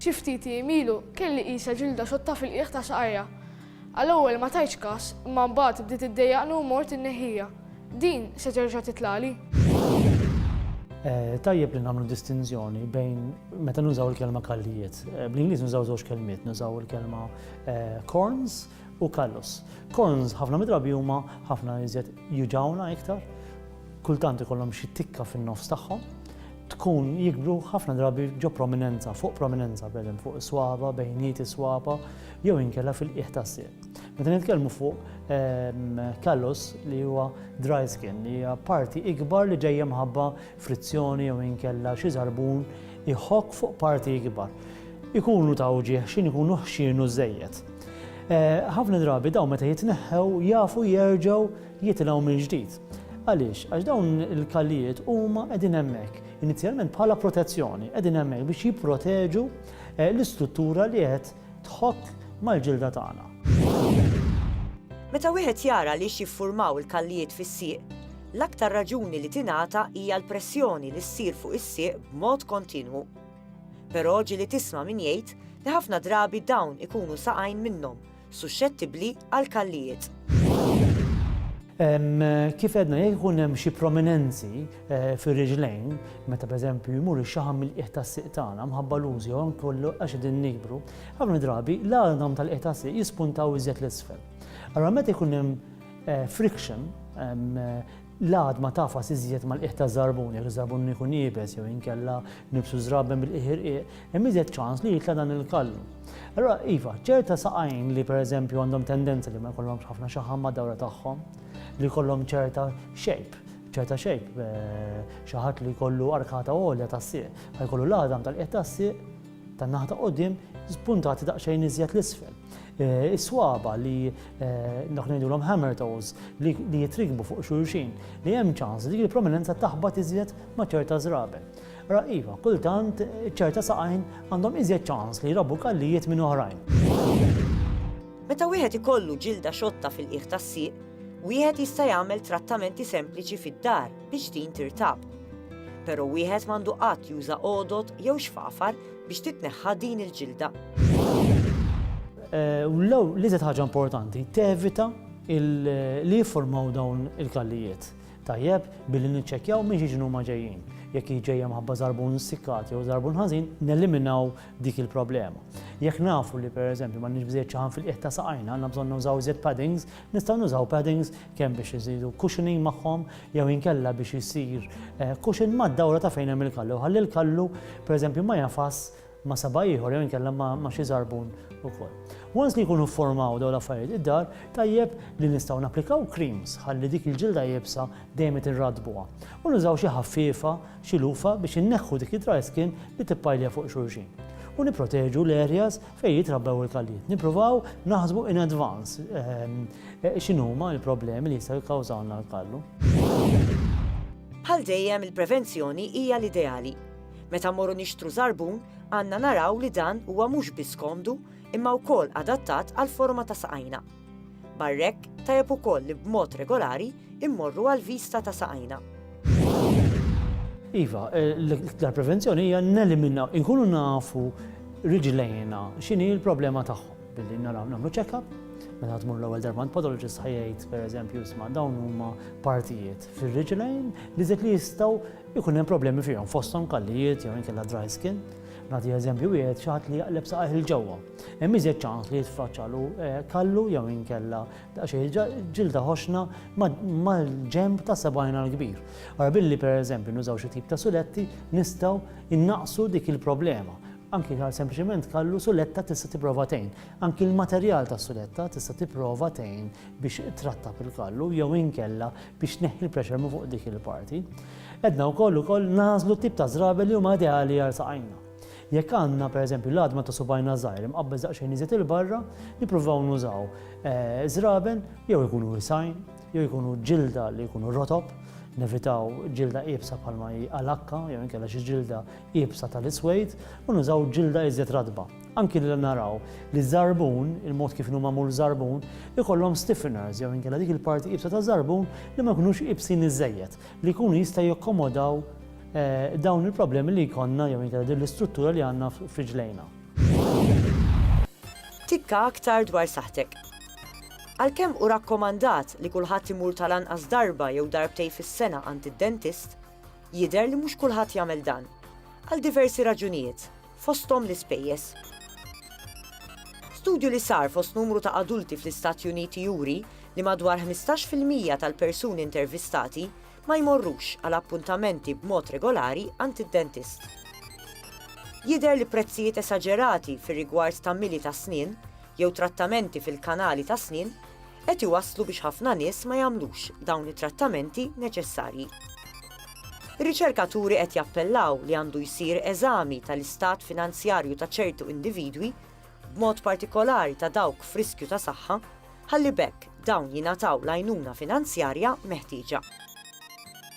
Xi ftit ijiem ilu kelli qisha ġilda xotta fil-qiegħ ta' saqajja. Għal-ewwel ma tajtx kas, imma mbagħad bdiet iddejjaqni u mort inneħħiha. Din se terġa' titlagħli? Tajjeb li nagħmlu distinzjoni bejn meta nużaw il-kelma kallijiet. Eh, Bl-Ingliż nużaw żewġ kelmiet, nużaw il-kelma eh, corns u callus. Corns ħafna midrabi huma ħafna iżjed juġawna iktar kultant ikollhom xi tikka fin-nofs tagħhom, tkun jikbru ħafna drabi ġo prominenza, fuq prominenza, b'edem fuq is-swaba, bejniet is-swaba, jew inkella fil-qiegħ tas-sieq. Meta nitkellmu fuq ehm, callus li huwa dry skin, li hija parti ikbar li ġejja mħabba frizzjoni jew inkella xi żarbun iħok fuq parti ikbar. Ikunu ta' uġieħ xin ikunu ħxienu żejjed. Eh, ħafna drabi daw meta jitneħħew jafu jerġgħu jitilgħu mill-ġdid. Għaliex? Għax dawn il-kallijiet huma qegħdin hemmhekk inizjalment bħala protezzjoni, qegħdin hemmhekk biex jipproteġu eh, l-istruttura li qed tħokk mal-ġilda tagħna. Meta wieħed jara li jiffurmaw il-kallijiet fis-sieq, l-aktar raġuni li tingħata hija l-pressjoni li ssir fuq is-sieq b'mod kontinwu. Però ġili tisma' min jgħid li ħafna drabi dawn ikunu saqajn minnhom suxxettibbli għal kallijiet. Kif għedna, jekk ikun hemm xi prominenzi eh, fir-riġlejn, meta pereżempju jmur ix-xaħam mill-qiegħ tas-siq tagħna mħabba l-użi jew kollu għax qegħdin nikbru, ħafna drabi l-għadhom tal-qiegħ tas-siq jispuntaw iżjed l-isfel. Allora meta jkun hemm eh, friction, eh, L-għad ma tagħfas iżjed mal-qiegħ taż-żarbun, jekk iż-żarbun ikun iebes jew inkella nibsu żraben bil-qiegħ irqiq, hemm iżjed ċans li jitla' dan il-kallu. Allura, iva, ċerta saqajn li pereżempju għandhom tendenza li ma jkollhomx ħafna xaħam mad-dawra tagħhom, li jkollhom ċerta shape, ċerta shape, xi ħadd li jkollu arkata għolja tas-sieq, ħajkollu l-għadam tal-qiegħ tas-sieq tan-naħa ta' quddiem spuntati daqsxejn iżjed 'l isfel. Is-swaba li dak li ngħidulhom hammer toes li jitrikbu fuq xulxin li hemm ċans li dik il-prominenza taħbat iżjed ma' ċerta żraben. Ra iva, kultant ċerta saqajn għandhom iżjed ċans li jrabbu kallijiet minn oħrajn. Meta wieħed ikollu ġilda xotta fil-qiegħ tas-sieq, wieħed jista' jagħmel trattamenti sempliċi fid-dar biex din tirtab. Però wieħed m'għandu qatt juża għodod jew xfafar biex titneħħa din il-ġilda. Eh, u l-lew li zed ħaġa importanti, tevita li jiffurmaw dawn il-kallijiet. Tajjeb, billi niċċekjaw minn ġiġnu ma ġejjin. Jekk ġejjem ħabba zarbun sikkat jew zarbun ħażin, neliminaw dik il-problema. Jekk nafu li per eżempju ma nixbżiet ċaħan fil-qiegħ ta' saqajna, għandna bżonn nużaw zed paddings, nistgħu nużaw paddings kemm biex iżidu cushioning magħhom jew inkella biex isir cushion mad-dawra ta' fejn hemm il-kallu, ħalli l-kallu pereżempju ma jagħfas ma' saba' ieħor jew inkella ma' xi żarbun ukoll. Once li jkunu fformaw dawn l-affarijiet id-dar, tajjeb li nistgħu napplikaw creams ħalli dik il-ġilda iebsa dejjem qed irrattbuha. U nużaw xi ħaffiefa, xi lufa biex inneħħu dik id-dry skin li tippajlja fuq xulxin. U nipproteġu l-areas fejn jitrabbew il-kallijiet. Nippruvaw naħsbu in advance. X'inhuma l-problemi li jistgħu jikkawżawlna l-kallu? Bħal dejjem il-prevenzjoni hija l-ideali. Meta mmorru nixtru żarbun, għandna naraw li dan huwa mhux biss komdu imma wkoll adattat għall-forma ta' saqajna. Barra hekk, tajjeb ukoll li b'mod regolari mmorru għall-vista ta' saqajna. Iva, l-iktar prevenzjoni hija neliminaw, inkunu nafu riġlejna x'inhi l-problema tagħhom. Billi naraw nagħmlu check-up, meta tmur l-ewwel darba għand podologist ħajjgħid pereżempju isma' dawn huma partijiet fir-riġlejn li żed li jistgħu jkun hemm problemi fihom fosthom kallijiet jew inkella dry skin. Nagħti eżempju wieħed xi ħadd li jaqleb saqajh il ġewwa. Hemm iżjed ċans li jitfaċċalu eh, kallu jew inkella daqsxejn ġilda ħoxna mal-ġemb ta' sebgħina l-kbir. Ara billi pereżempju nużaw xi tip ta' suletti nistgħu innaqsu dik il-problema. Anki għal sempliċement kallu suletta tista' tipprova tgħin. Anki l-materjal tas-suletta tista' tipprova tgħin biex trattab il-kallu jew inkella biex tneħħi l-pressure minn fuq dik il-parti. Għedna wkoll ukoll nagħżlu t-tip ta' żrabel li huma ideali għal saqajna. Jekk għandna pereżempju l-għadma ta' subgħajna żgħir imqabbeż daqsxejn iżjed 'il barra, nippruvaw nużaw żraben jew ikunu wisgħin jew ikunu ġilda li jkunu rotob, nevitaw ġilda iebsa bħalma hi alakka jew inkella xi ġilda iebsa tal-iswejt u nużaw ġilda iżjed ratba. Anki li naraw li ż-żarbun, il-mod kif inhu magħmul żarbun, ikollhom stiffeners jew inkella dik il-parti iebsa taż-żarbun li ma jkunux iebsin iżżejjed, li jkunu jistgħu jakkomodaw dawn il-problemi li jkollna jew inkella din l-istruttura li għandna f'riġlejna. Tikka aktar dwar saħħtek. Għalkemm hu rakkomandat li kulħadd imur tal-anqas darba jew darbtejn fis-sena għand id-dentist, Jidher li mhux kulħadd jagħmel dan. Għal diversi raġunijiet, fosthom l-ispejjeż. Studju li sar fost numru ta' adulti fl-Istati Uniti juri li madwar 15 fil-mija tal-persuni intervistati ma jmorrux għal appuntamenti b'mod regolari għand id-dentist. Jidher li prezzijiet esaġerati fir-rigward ta' mili tas-snien jew trattamenti fil-kanali tas-snien qed iwasslu biex ħafna nies ma jagħmlux dawn it-trattamenti neċessarji. Ir-riċerkaturi qed jappellaw li għandu jsir eżami tal-istat finanzjarju ta' ċertu individwi, b'mod partikolari ta' dawk f'riskju ta' saħħa, ħalli b'hekk dawn jingħataw l-għajnuna finanzjarja meħtieġa.